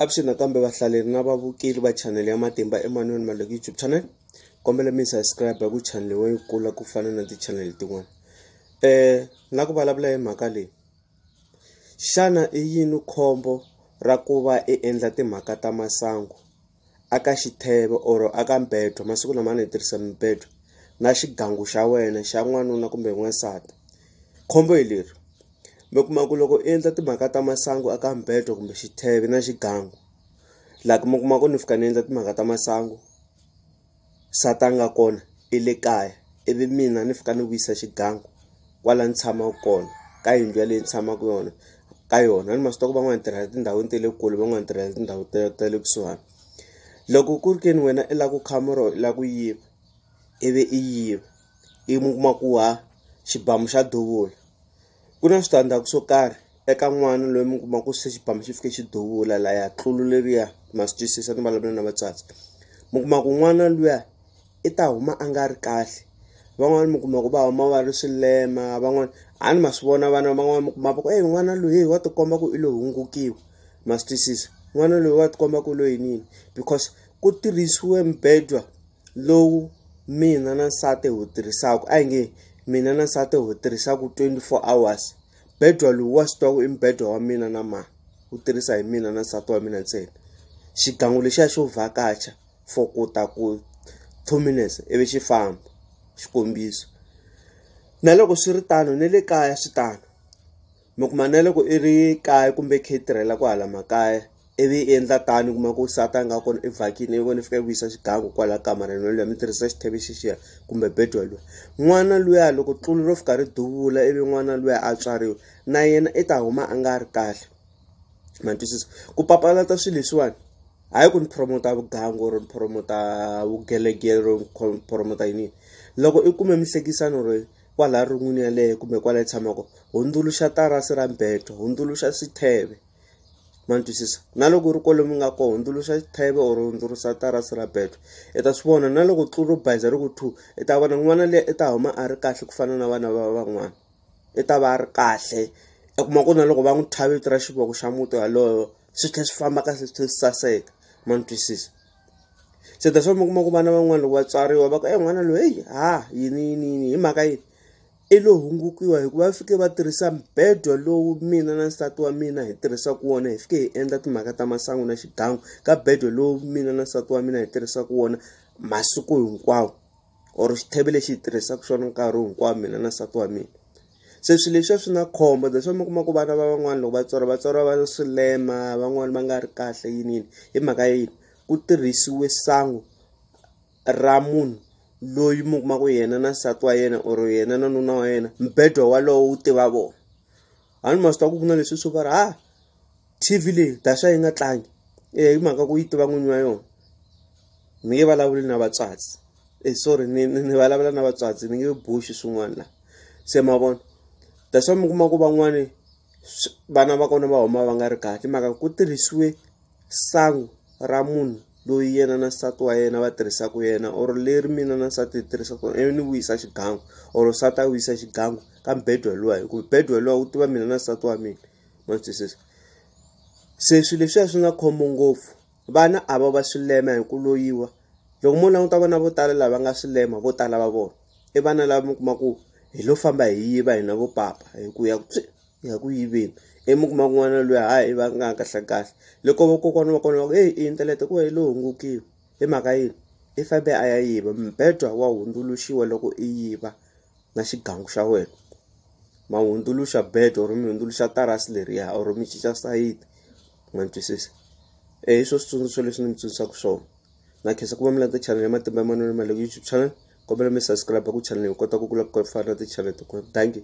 Avuxeni nakambe vahlaleri na vavukeli va channel ya Matimba Emmanuel Maleki YouTube channel. Kombela mi subscribe ku channel wa yi kula ku fana na ti-channel tin'wana. Eh na ku vulavula hi mhaka leyi. Xana i yini khombo ra ku va i endla timhaka ta masangu aka xitheve or aka mbedwa masiku lama ni tirhisa mibedwa na xigangu xa wena xa n'wanuna kumbe n'wansati khombo hi leri mi kuma ku loko i endla timhaka ta masangu aka mbedo kumbe xitheve na xigangu laha mi kuma ku ni fika ni endla timhaka ta masangu sata nga kona i le kaya ivi mina ni fika ni vuyisa xigangu kwala ni tshamaka kona ka yindlu yaleyi ni tshamaka yona ka yona ni maswi tiva ku van'wana tirhela tindhawini ta le kule van'wana tirhela tindhawu ta ta le kusuhana loko ku ri ke ni wena i lava ku khamera or i lava ku yiva ivi i yiva. i mi kuma ku ha xibamu xa duvula ku na switandzhaku swo karhi eka n'wana loyi mi kuma ku se xibamu xi fike xi duvula la ya tlulu leriya ma swi twisisa ni vulavula na vatswatsi mi kuma ku n'wana luya i ta huma a nga ri kahle van'wani mi kuma ku va huma va ri swilema van'wani a ni ma swi vona vana van'wani mi kuma va ku e n'wana loyi wa tikomba ku i lo hungukiwa ma swi twisisa n'wana loyi wa tikomba ku i lo yiniyini because ku tirhisiwe mibedwa. lowu mina na nsati hi wu tirhisaka a hi nge mina na nsati hi wu tirhisaka twenty four hours bedwa lowu wa swi tiva ku i mubedwa wa mina na mani wu tirhisa hi mina na nsati wa mina ntsena xigangu lexiya xo vhakacha for ku ta ku two minutes ivi xi famba xikombiso na loko swi ri tano na le kaya swi tano mi kuma na loko i ri kaya kumbe khe i tirhela ku hala makaya ivi i endla tani kuma ku sata nga kona i vhakini i vona i fika i vuyisa xigangu kwala kamareni waloya mi tirhisa xitheve xixiya kumbe bed waloya n'wana luya loko tlulu ro fika ri duvula ivi n'wana luya a tswariwa na yena i ta huma a nga ri kahle ma twisisa ku papalata swilo leswiwani hayi ku ni promota vugangu or ni promota vugelegelo or ni promota yini loko i kume mihlekisano ro Kwalaya rungwini yaleyo kumbe kwala yi tshamaka, hundzuluxa tarasi ra mbedo, hundzuluxa xitheve. Ma twisisa? Na loko u ri kwale mi nga kona, hundzuluxa xitheve or hundzuluxa tarasi ra bedo. I ta swi vona na loko tlu ro bayiza ri ku thuu, i ta vona n'wana liya i ta huma a ri kahle ku fana na vana va van'wana. I ta va a ri kahle, u kuma ku na loko va n'wi thya vito ra xivongo xa muti walowo, swi tlhela swi famba kahle swi tlhela swi saseka. Ma ni twisisa? se that's why mi kuma ku vana van'wana loko vatswariwa va ku e n'wana loyi heyi ha yini yini yini hi mhaka yini i lo hungukiwa hikuva va fike va tirhisa mbedwa lowu mina na nsati wa mina hi tirhisaka wona hi fike hi endla timhaka ta masangu na xigangu ka bedwa lowu mina na nsati wa mina hi tirhisaka wona masiku hinkwawo or xitheve lexi hi tirhisaka xona nkarhi hinkwawo mina na nsati wa mina se swilo leswiya swi na khombo that's why mi kuma ku vana va van'wana loko va tswara va tswara va swilema van'wana va nga ri kahle yini yini hi mhaka ya yini ku tirhisiwe sangu ra munhu loyi mi kuma ku yena na nsati wa yena or yena na nuna wa yena mbedwa walowo wu tiva vona a ni ma swi tiva ku ku na leswi swo va ri ha tv leyi daxa yi nga tlangi e hi mhaka ku yi tiva n'winyi wa yona ni nge vulavuli na vatswatsi e eh, sorry ni ni vulavula na vatswatsi ni nge boxi swin'wana la se ma vona that's why mi kuma ku van'wani vana va kona va huma va nga ri kahle mhaka ku tirhisiwe sangu ra munhu loyi yena na nsati wa yena va tirhisaka yena or leri mina na nsati hi tirhisaka ivi ni wisa xigangu or nsati a wisa xigangu ka mbedwa luwa hikuva mbedwa luwa wu tiva mina na nsati wa mina ma twisisa se swilo leswiya swi nga khombo ngopfu vana a va va swilema hi ku loyiwa loko mo languta vana vo tala lava nga swilema vo tala va vona i vana lava mi kuma ku hi lo famba hi yiva hina vo papa hi ku ya ku ya ku yiveni imu kuma kun'wana loyi hayi va nga kahle kahle loko vakokwana va kona va ku eyi i inthanete ku va yi lo hungukiwa hi mhaka yini i fambe a ya yiva mbedwa wa hundzuluxiwa loko i yiva. na xigangu xa wena ma hundzuluxa bed or mi hundzuluxa tarasi leriya or mi cinca sayiti ma ni twisisa e hi swo switsundzuxo leswi ni mi tsundzuxaka swona na khensa ku va mi landza channel ya matimba ya manwelo ma le ku youtube channel kombela mi subscribe ku channel hi kota ku kula ku fana na ti-channel tin'wana dankie